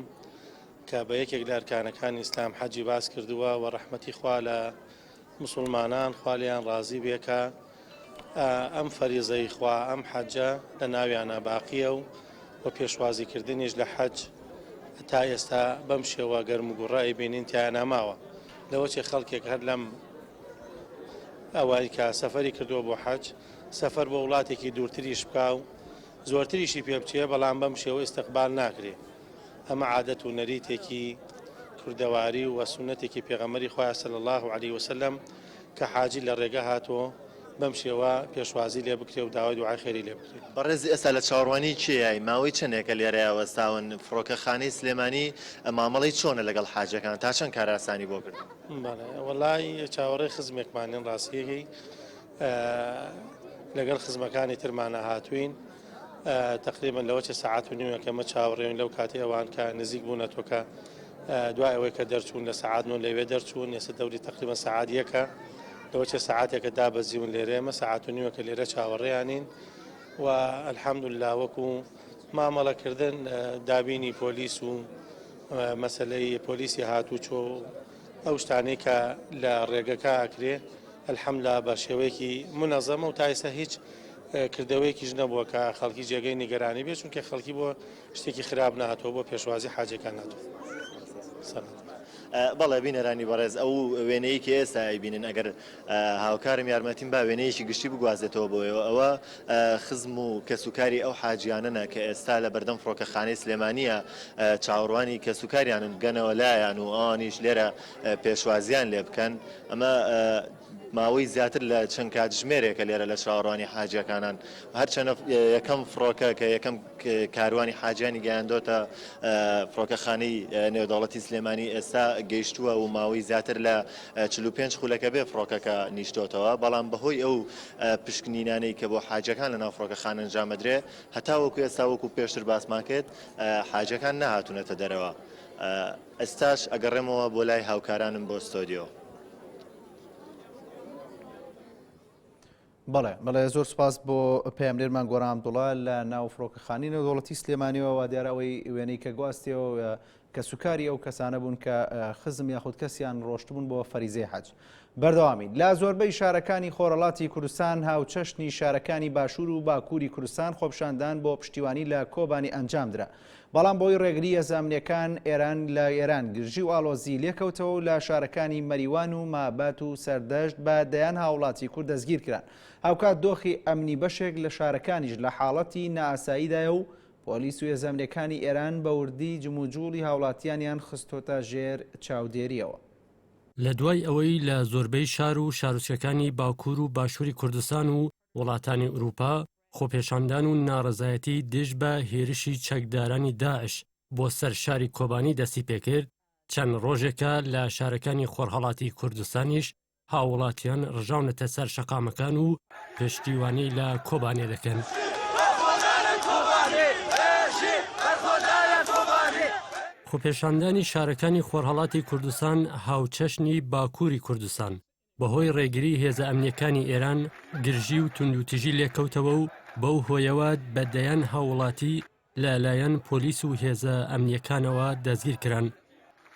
کە بە یەکێک لە ئەرکانەکانی ئیسلام حەجی باس کردووە و ڕەحمەتی خوا لە مسلمانان خالیان ڕازی بێکە ئەم فەریزەی خوا ئەم حەجە لە ناویانە باقیە و و پێشوازیکردنیش لە حەج تا ئێستا بەم شێوە گەرم و گوڕای بینین تیاناماوە لەوەچێ خەڵکێک هەر لەم ئەوەی کە سەفری کردووە بۆ حەج سەفەر بۆ وڵاتێکی دوورتریش بکا و زۆرتریشی پێ بچێ، بەڵام بەم شێوە ئیستقبال ناکرێ. ئەمە عادەت و نەریتێکی کوردەواری و سوننەتێکی پێغەمبەری خوایە صلی اللە علیە وسلم کە حاجی لە ڕێگە هاتوو بەم شێوە پێشوازی لێ بکرێ و داوای دوعای خێری لێ بکرێ. بەڕێز ئێستا لە چاوەڕوانی کێیای؟ ماوەی چەندێکە لێرەیا وەستاون؟ فڕۆکەخانەی سلێمانی مامەڵەی چۆنە لەگەڵ حاجەکان؟ تا چەند کارئاسانی بۆ کردوون؟ بەڵێ وەڵای چاوەڕێی خزمێکمانین ڕاستیەکەی. لەگەڵ خزمەکانی ترمانە هاتوین تقریبن لەوە چە سعات و نیوە کەمە چاوەڕێن لەو کاتی ئەوان کە نزیک بوو نەتۆکە دوای ئەوەی کە دەرچوون لە سعات و لەوێ دەرچوون ێسە دەوری تقریبە سعادیەکە لەوە چە سعاتێکە دابەزیون لێرێمە سعات و نیوە کە لێرە چاوەڕێیانین و الحمد الله وەکو مامەڵەکردن دابینی پۆلیس و مەسلەی پۆلیسی هاتوو چۆ ئەو شتانەی کە لە ڕێگەکە ئەکرێ الحمدللە بە شێوەیەکی منەزەمە و تا ئێستا هیچ کردەوەیەکیش نەبووە کە خەڵکی جێگەی نیگەرانی بێ چونکە خەڵکی بۆ شتێکی خراپ ناتەوە بۆ پێشوازی حاجەکان ناتوە سەر. بەڵێ بینەرانی بەڕێز ئەو وێنەیەکی ئێستا ئەیبینن ئەگەر هاوکارم یارمەتیم با وێنەیەکی گشتی بگوازێتەوە بۆیەوە ئەوە خزم و کەسوکاری ئەو حاجیانەنە کە ئێستا لە بەردەم فڕۆکەخانەی سلێمانیە چاوەڕوانی کەسوکاریانن بگەنەوە لایان و ئەوانیش لێرە پێشوازیان لێ بکەن ئەمە ماوەی زیاتر لە چەند کاتژمێرێکە لێرە لە چاوەڕوانی حاجەکانان هەرچەنە یەکەم فڕۆکە کە یەکەم کاروانی حاجانی گەیاندۆتە فڕۆکەخانەی نێودەوڵەتی سلێمانی ئێستا گەیشتووە و ماوەی زیاتر لە چل و پێنج خولەکە بێ فڕۆکەکە نیشتۆتەوە، بەڵام بەهۆی ئەو پشکنینانەی کە بۆ حاجیەکان لەناو فڕۆکەخانە ئەنجام ئەدرێ، هەتاوەکو ئێستا وەکو پێشتر باسمان کرد حاجیەکان نەهاتونەتە دەرەوە. ئێستاش ئەگەڕێمەوە بۆ لای هاوکارانم بۆ ستۆدیۆ. بەڵێ بەڵێ زۆر سپاس بۆ پەیامنێرمان گۆران دوڵە لە ناو فڕۆکەخانی نەودەوڵەتی سلێمانیەوە وا دیارە ئەوەی وێنەی کە گواستیەوە کە سوکاری ئەو کەسانە بوون کە خزم یاخود کەسیان ڕۆشتبوون بۆ فەریزەی حەج بەردەوامین لا زۆربەی شارەکانی خۆرەڵاتی کوردستان هاوچەشنی شارەکانی باشوور و باکووری کوردستان خۆپشاندان بۆ پشتیوانی لە کۆبانی ئەنجامدرا بەڵام بۆی ڕێگری یە زامنێکان ئێران لە ئێران گرژی و ئاڵۆزی لێکەوتەوە و لە شارەکانی مەریوان و مابات و سەردەشت بە دەیان هاوڵاتی کورد دەستگیر کران هاوکات دۆخی ئەمنی بەشێک لە شارەکانیش لە حاڵەتی نائاساییدایە و پۆلیس و یەزامنێکانی ئێران بە وردی جموجوڵی هاوڵاتیانیان خستۆتە ژێر چاودێریەوە. لە دوای ئەوەی لە زۆربەی شار و شارۆچکەکانی باکوور و باشووری کوردستان و وڵاتانی ئورووپا خۆپێشاندان و ناڕەزایەتی دژ بە هێرشی چەکدارانی داعش بۆ سەر شاری کۆبانی دەستی پێکرد، چەند ڕۆژێکە لە شارەکانی خۆرهەڵاتی کوردستانیش هاووڵاتیان ڕژاونەتە سەر شەقامەکان و پشتیوانی لە کۆبانێ دەکەن. خۆپێشاندانی شارەکانی خۆرهەڵاتی کوردستان هاوچەشنی باکووری کوردستان بەهۆی ڕێگری هێزە ئەمنیەکانی ئێران گرژی و توندوتیژی لێکەوتەوە و بەو هۆیەوە بە دەیان هاوڵاتی لەلایەن پۆلیس و هێزە ئەمنیەکانەوە دەستگیر کران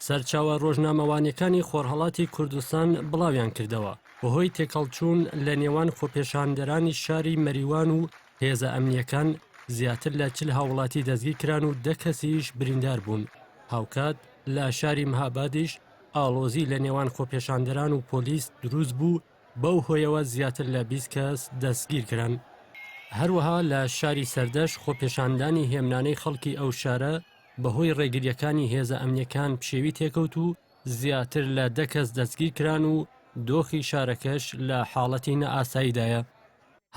سەرچاوە ڕۆژنامەوانیەکانی خۆرهڵاتی کوردستان بڵاویان کردەوە بەهۆی تێکەڵچوون لە نێوان خۆپێشاندەرانی شاری مەریوان و هێزە ئەمنیەکان زیاتر لە چل هاوڵاتی دەستگی کران و دە کەسیش بریندار بوون هاوکات لە شاری مهابادیش ئاڵۆزی لە نێوان خۆپێشاندەران و پۆلیس دروست بوو، بەو هۆیەوە زیاتر لە بیست کەس دەستگیر کران. هەروەها لە شاری سەردەشت خۆپێشاندانی هێمنانەی خەڵکی ئەو شارە بەهۆی ڕێگرییەکانی هێزە ئەمنییەکان پشێوی تێکەوت و زیاتر لە دە کەس دەستگیر کران و دۆخی شارەکەش لە حاڵەتی نائاساییدایە.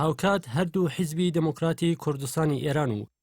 هاوکات هەردوو حیزبی دێموکراتی کوردستانی ئێران و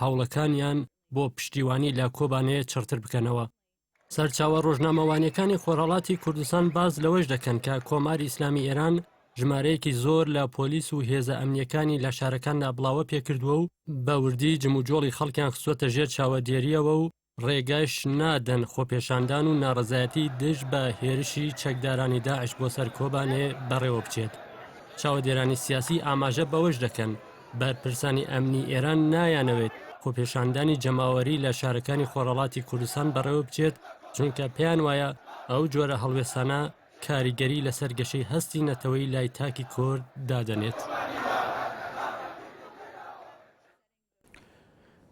هەوڵەکانیان بۆ پشتیوانی لە کۆبانێ چڕتر بکەنەوە. سەرچاوە ڕۆژنامەوانیەکانی خۆرهەڵاتی کوردستان باس لەوەش دەکەن کە کۆماری ئیسلامی ئێران ژمارەیەکی زۆر لە پۆلیس و هێزە ئەمنیەکانی لە شارەکاندا بڵاوە پێکردووە و بە وردی جموجۆڵی خەڵکیان خستوەتە ژێر چاوەدێریەوە و ڕێگەش نادەن خۆپێشاندان و ناڕەزایەتی دژ بە هێرشی چەکدارانی داعش بۆ سەر کۆبانێ بەڕێوە بچێت. چاوەدێرانی سیاسی ئاماژە بەوەش دەکەن، بەرپرسانی ئەمنی ئێران نایانەوێت خۆپێشاندانی جەماوەری لە شارەکانی خۆرهەڵاتی کوردستان بەڕێوە بچێت، چونکە پێیان وایە ئەو جۆرە هەڵوێستانە کاریگەری لەسەر گەشەی هەستی نەتەوەیی لای تاکی کورد دادەنێت.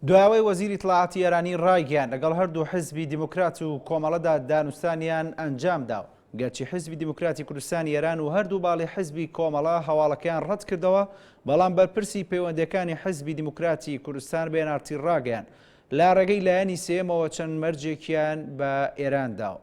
دوایەوەی وەزیری اطلاعاتی ئێرانی ڕایگەیان لەگەڵ هەردوو حزبی دیموکرات و کۆمەڵەدا دانوستانیان ئەنجامدا و گەرچی حزبی دیموکراتی کوردستانی ئێران و هەردوو باڵی حزبی کۆمەڵە هەواڵەکەیان ڕەت کردەوە بەڵام بەرپرسی پەیوەندەکانی حزبی دیموکراتی کوردستان بێنارتی ڕاگەیان لە ڕێگەی لایەنی سێمەوە چەند مەرجێکیان بە ئێران داوە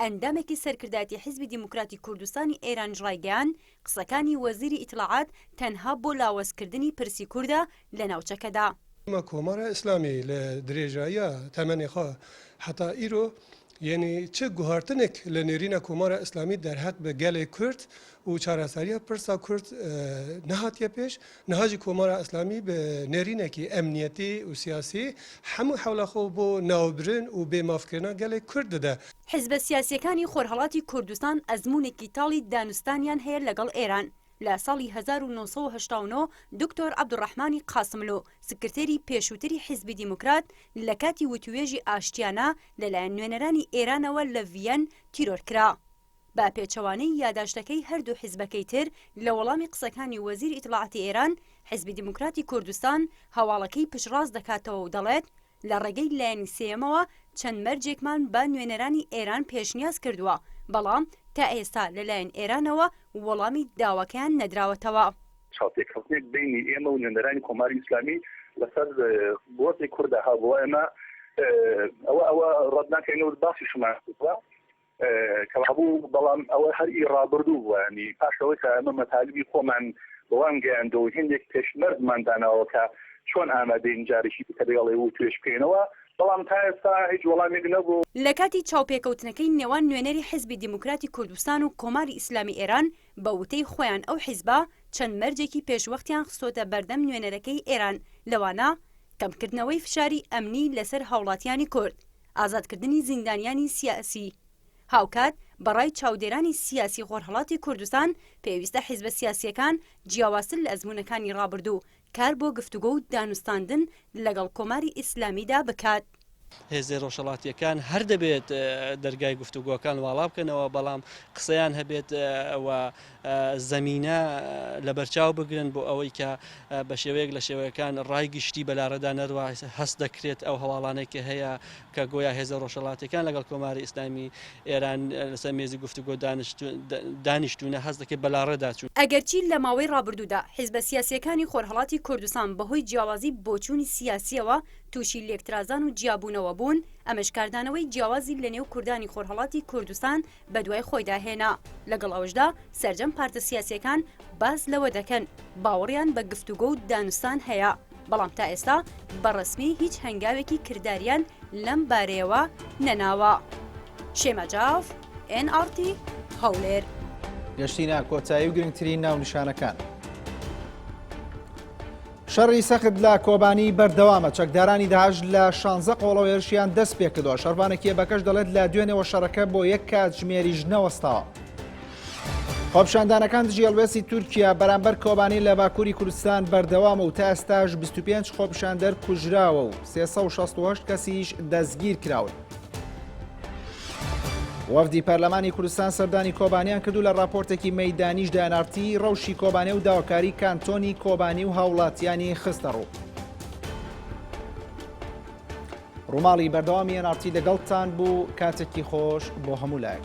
ئەندامێکی سەرکردایەتی حیزبی دیموکراتی کوردستانی ئێرانیش ڕایگەیاند، قسەکانی وەزیری ئیتلاعات تەنها بۆ لاوازکردنی پرسی کوردە لە ناوچەکەدا. ئەمە کۆمارە ئیسلامی لە درێژاییە تەمەنێ خۆ هەتا ئیرۆ یەنی چ گوهارتنێک لە نێرینە کۆمارە ئیسلامی دەرهەق بە گەلێ کورد و چارەسەریە پرسا کورد نەهاتیە پێش، نهاجی کۆمارا ئیسلامی بە نێرینەکی ئەمنیەتی و سیاسی هەموو حەولا خۆ بۆ ناوبرن و بێ ماف کرنا گەلێ کورد دەدا. حیزبە سیاسیەکانی خۆرهەڵاتی کوردستان ئەزموونێکی تاڵی دانوستانیان هەیە لەگەڵ ئێران. لە ساڵی هەزار و نۆ سەد و هەشتا و نۆ دوکتۆر عەبدولڕەحمانی قاسملوو سکرتێری پێشووتری حیزبی دیموکرات لە کاتی وتووێژی ئاشتیانە لەلایەن نوێنەرانی ئێرانەوە لە ڤییەن تیرۆر کرا. بە پێچەوانەی یاداشتەکەی هەردوو حیزبەکەی تر، لە وەڵامی قسەکانی وەزیری ئیتڵاعاتی ئێران، حیزبی دیموکراتی کوردستان هەواڵەکەی پشتڕاست دەکاتەوە و دەڵێت، لە ڕێگەی لایەنی سێیەمەوە چەند مەرجێکمان بە نوێنەرانی ئێران پێشنیاز کردووە، بەڵام تا ئێستا لەلایەن ئێرانەوە وەڵامی داواکەیان نەدراوەتەوە. چاوپێکەوتنێک بەینی ئێمە و نوێنەرانی کۆماری ئیسلامی لەسەر گۆڕی کوردا هەبووە، ئێمە ئەوە ئەوە ڕەت ناکەین و باسیشمان کردووە. کەوابوو بەڵام ئەوە هەر ئی ڕابردوو بووە ینی پاش ئەوەی کە ئەمە مەتالیبی خۆمان بەوان گەیاندەوە و هێندێک پێشمەرجمان داناوە کە چۆن ئامادەین جارێکی دیکە لەگەڵێ وتوێژ بکەینەوە بەڵام تا ئێستا هیچ وەڵامێک نەبوو. لە کاتی چاوپێکەوتنەکەی نێوان نوێنەری حیزبی دیموکراتی کوردستان و کۆماری ئیسلامی ئێران، بە وتەی خۆیان ئەو حیزبە چەند مەرجێکی پێشوەختیان خستۆتە بەردەم نوێنەرەکەی ئێران لەوانە کەمکردنەوەی فشاری ئەمنی لەسەر هاوڵاتیانی کورد، ئازادکردنی زیندانیانی سیاسی، هاوکات بە ڕای چاودێرانی سیاسی خۆرهەڵاتی کوردستان پێویستە حیزبە سیاسییەکان جیاوازتر لە ئەزموونەکانی ڕابردوو کار بۆ گفتوگۆ و دانوستاندن لەگەڵ کۆماری ئیسلامیدا بکات. هێزە ڕۆژهەڵاتییەکان هەر دەبێت دەرگای گفتوگۆکان واڵا بکەنەوە، بەڵام قسەیان هەبێت و زەمینە لەبەرچاو بگرن بۆ ئەوەی کە بە شێوەیەک لە شێوەکان ڕای گشتی بە لاڕێدا نەروا، هەست دەکرێت ئەو هەواڵانەی کە هەیە کە گۆیا هێزە ڕۆژهەڵاتیەکان لەگەڵ کۆماری ئیسلامی ئێران لەسەر مێزی گفتوگۆ دانیشتوونە هەست دەکرێت بە لاڕێدا چوون. ئەگەرچی لە ماوەی ڕابردوودا حیزبە سیاسیەکانی خۆرهەڵاتی کوردستان بە هۆی جیاوازی بۆچوونی سیاسیەوە تووشی لێکترازان و جیابوونەوە بوون، ئەمەش کاردانەوەی جیاوازی لە نێو کوردانی خۆرهەڵاتی کوردستان بەدوای خۆیدا هێنا، لەگەڵ ئەوەشدا سەرجەم پارتە سیاسیەکان باس لەوە دەکەن باوەڕیان بە گفتوگۆ و دانوستان هەیە، بەڵام تا ئێستا بە ڕەسمی هیچ هەنگاوێکی کرداریان لەم بارەیەوە نەناوە. شێما جاف، ئێن ئاڕ تی، هەولێر. گەشتینە کۆتایی و گرنگترین ناونیشانەکان. شەڕی سەخت لە کۆبانی بەردەوامە چەکدارانی داعش لە شانزە قۆڵەوە هێرشیان دەست پێکردەوە شەربانە کێبەکەش دەڵێت لە دوێنێەوە شەڕەکە بۆ یەک کاتژمێریش نەوەستاوە. خۆپشاندانەکان دژی هەڵوێستی تورکیا بەرامبەر کۆبانی لە باکووری کوردستان بەردەوامە و تا ئێستاش 25 خۆپشاندەر کوژراوە و 368 کەسیش دەستگیر کراون. وەفدی پەرلەمانی کوردستان سەردانی کۆبانیان کردو لە ڕاپۆرتێکی مەدانیش دانارتی ڕەوشی کۆبانێ و داواکاری کانتۆنی کۆبانی و هاوڵاتیانی خستە ڕوو. ڕووماڵی بەردەوامی ئەنارتی لەگەڵتان بوو کاتێکی خۆش بۆ هەموو لایەک.